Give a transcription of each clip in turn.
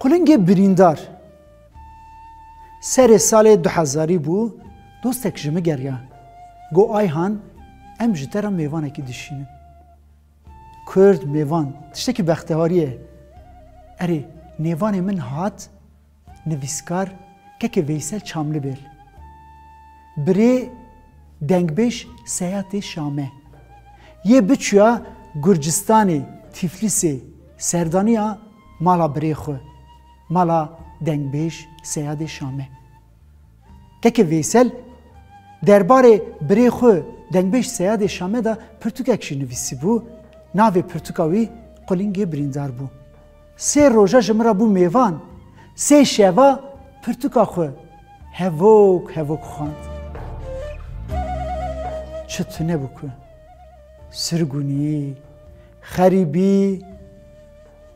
Qulingê birîndar serê salê du hezarî bû, dostek ji min geriya, got Ayhan em ji te re mêvanekî dişînin. Kurd, mêvan, tiştekî bextewarî ye. Erê, nêvanê min hat, nivîskar Keke Veysel Çamlibêl. Birê dengbêj Seyatê Şame. Yê biçûya Gurcistanê, Tîflîsê, serdaniya. Mala birê xwe, mala dengbêj Seyadê Şame. Keke Vêsel derbarê birê xwe dengbêj Seyadê Şame de pirtûkek jî nivîsîbû, navê pirtûka wî Qulingê Birîndar bû. Sê roja ji min re bû mêvan, sê şeva pirtûka xwe hevok hevok xwend. Çi tune bû ku sirgûnî, xerîbî.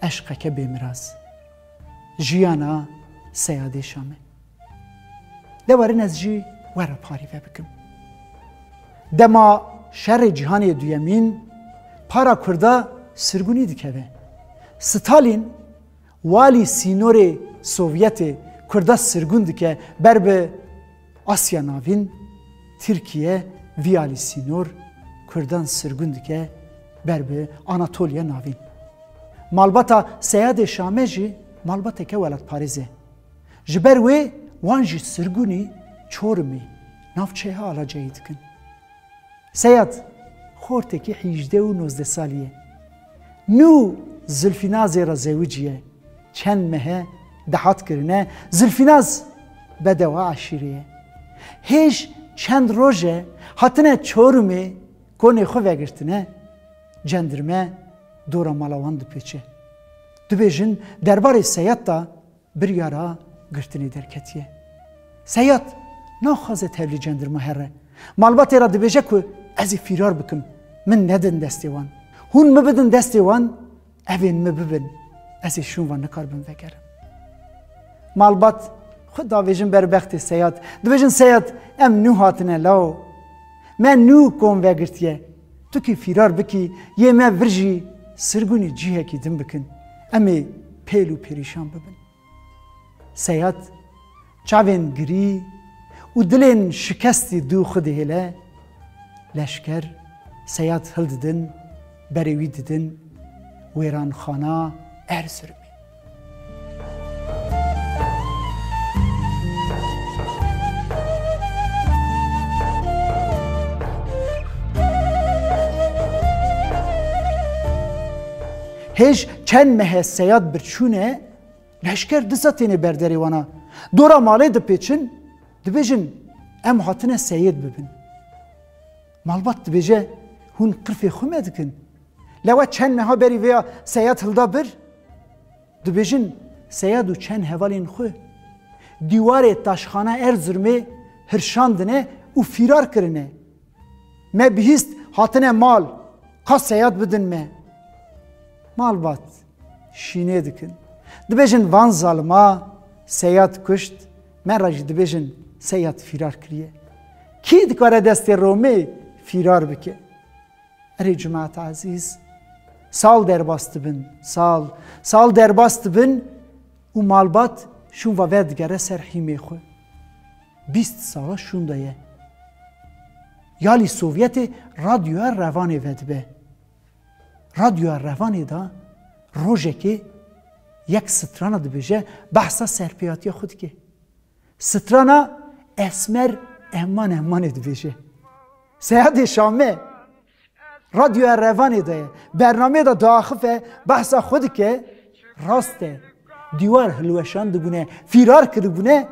eşqeke bêmiraz. Jiyana seyadêşa me. De werin ez jî we re parîve bikim. Dema şerê cîhanê duyemîn para Kurda sirgunî dikeve. Stalîn walî sînorê Sovyetê Kurda sirgun dike ber bi Asya Navîn, Tirkiye vî alî sînor Kurdan sirgûn dike ber bi Anatoliya Navîn. Malbata Seyadê Şame jî malbateke welatparêz e. Ji ber wê wan jî sirgûnî Çorumê, navçeya Alacayê dikin. Seyad, xortekî hîjdeh û nozdeh salî ye. Nû Zilfînazê re zewicî ye. Çend mehe dahat kirine Zilfînaz bedewa eşîrê ye. Hêj çend roj e hatine Çorumê konê xwe vegirtine. Cendirme dora mala wan dipeçe. Dubêjin derbarê Seyad de Biryara girtinê derketiye. Seyad naxwaze tevlî cendirma here. Malbatê re dibêje ku ez ê fîrar bikim. Min nedin destê wan. Hûn min bidin destê wan, evên min bibin. Ez ê şûn van nikarbim vegerim. Malbat xwe davêjin ber bextê Seyad. Dibêjin Seyad em nû hatine law. Me nû kom vegirtiye. Tu kî fîrar bikî yê me vir jî sirgûnê cîhekî din bikin, em ê pêl û pêrîşan bibin. Seyad, çavên girî û dilên şikestî dû xwe dihêle, leşker Seyad hildidin, berê wî didin, wêranxana Erzirumê. Hêj çend mehe seyad birçûne leşker disa têne berderê wana. Dora malê dipêçin dibêjin em hatine seyêd bibin. Malbat dibêje hûn qirfê xwe me dikin. Lewa çend meha berî vêya Seyad hilda bir, dibêjin Seyad û çend hevalên xwe dîwarê taşxana Erzirmê hirşandine û fîrar kirine. Me bihîst hatine mal ka Seyad bidin me. Malbat şînê dikin. Dibêjin van zalima Seyad kuşt, me re jî dibêjin Seyad fîrar kiriye. Kî dikare destê Romê fîrar bike? Erê cemaata ezîz, sal derbas dibin, sal, sal derbas dibin û malbat şûnva ver digere ser hîmê xwe. Bîst sala şûn de ye. Yalî Sovyetê radyoya revanê vedibe. Radyoya revanê de rojekê yek strana dibêje behsa serpêhatiya xwe dike. Strana Esmer Ehman Ehmanê dibêje. Seyadê Şame Radyoya Revanê de ye. Bernameyê de diaxife, behsa xwe dike, rast e. Dîwar hilweşandibûne, fîrar kiribûne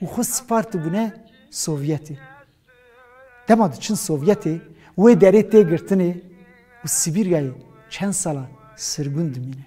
û xwe spartibûne Sovyetê. Dema diçin Sovyetê, wê derê tê girtinê û Sibîryayê çend sala sirgûn dimîne.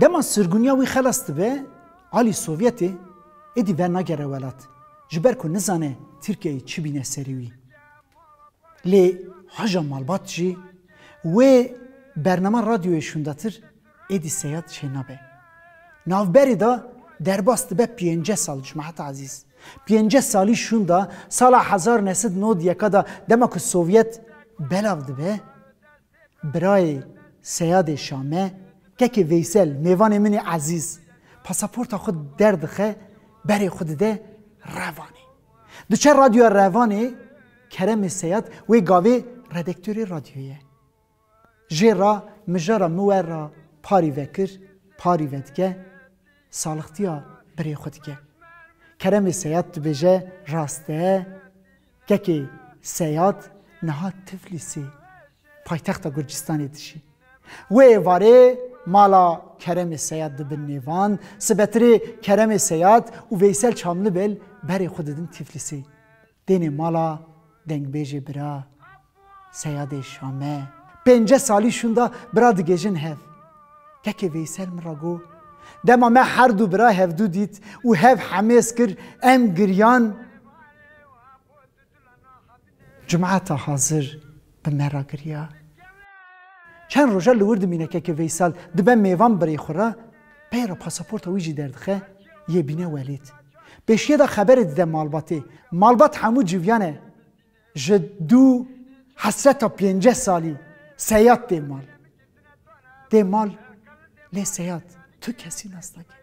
Dema sirgûniya wî xelas dibe, alî Sovyetê êdî vernagere welat, ji ber ku nizane Tirkiyeyê çi bîne serê wî. Lê haja malbat jî wê bernama radyoyê şûndatir êdî seyad çênabe. Navberê de derbas dibe pênce sal ji me heta ezîz. Pênce salî şûnda sala hezar nesid nod yeka de dema ku Sovyet belav dibe, Birayê Seyadê Şame, kekê Veysel, mêvanê min ê ezîz, pasaporta xwe derdixe, berê xwe dide Revanê. Diçe Radyoya Revanê, Keremê Seyad wê gavê redektorê radyoyê ye. Jê ra mijara min we ra parî vekir, parî vedike, salixtiya birê xwe dike. Keremê Seyad dibêje, Rast e, Kekê Seyad niha Tiflîsê, paytexta Gurcistanê dijî. Wê êvarê mala Keremê Seyad dibin nêvan, sibetirê Keremê Seyad û Veysel Çamlibel berê xwe didin Tiflîsê. Dênê mala dengbêjê bira Seyadê Şame. Pênce salî şûnda bira digêjin hev. Kekê Veysel min ra got, Dema me her du bira hevdu dît û hev hemêz kir, em giriyan. Cumata Hazir bi me ra giriya. Çend roja li wir dimîne kekê Veysel dibe mêvan birê xwe ra, pey ra pasaporta wî jî derdixe, yê bîne welêt. Pêşiyê de xeberê dide malbatê. Malbat hemû civiyane. Ji du hesreta pênceh salî Seyad tê mal. Tê mal lê Seyad tu kesî nas nake.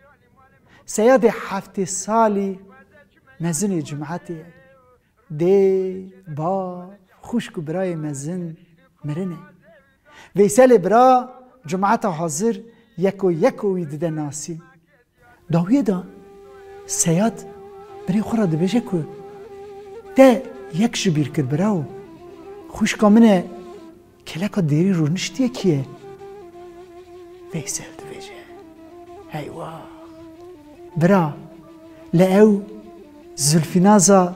Seyadê heftê salî mezinê cumetê ye. Dê, bav, xwişk û birayê mezin mirine. Veyselê bira Cumata Hazir yeko yeko wî dide nasî. Dawiyê de Seyad birê xwe re dibêje ku te yek ji bîr kir birawo. Xwîşka min e kêleka dêrî rûniştiyekî ye. Veysel dibêje Heywax! Bira li ew Zilfînaza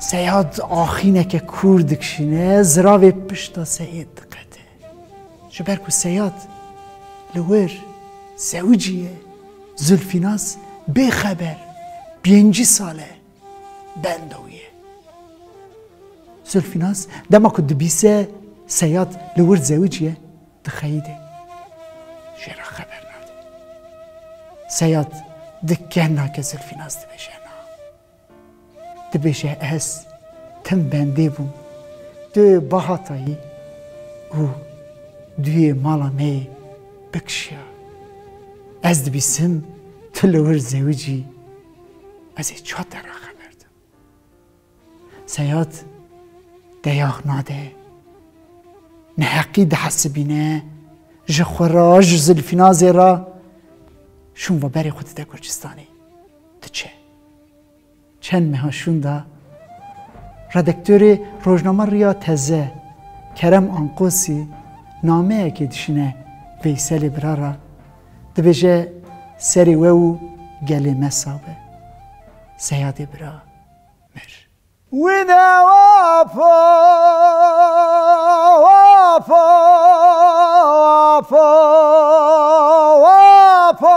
Seyad axîneke kûr dikişîne, ziravê pişta Seyêd diqete. Ji ber ku Seyad li wir zewicî ye, Zilfînaz bê xeber pêncî sal e benda wî ye. Zilfînaz dema ku dibîse Seyad li wir zewicî ye, dixeyîde. Jê re xeber nade. Seyad di keh nake Zilfînaz dibêje. Dibêje ez tim bendê bûm tu bahata yî û duyê mala me yê bikişiya. Ez dibîsim tu li wir zewicî ez ê çat te re xeber dim. Seyad deyax nade neheqî dihesibîne ji xwe re ji Zilfînazê re şûn ve berê xwe dide Gurcistanê diçe. Çend meha şûnda redaktorê rojnama Riya Teze Kerem Ankosî nameyekê dişîne Veyselê bira re, dibêje serê we û gelê me sab e. Seyadê bira mir. Wî de wapo, wapo, wapo, wapo.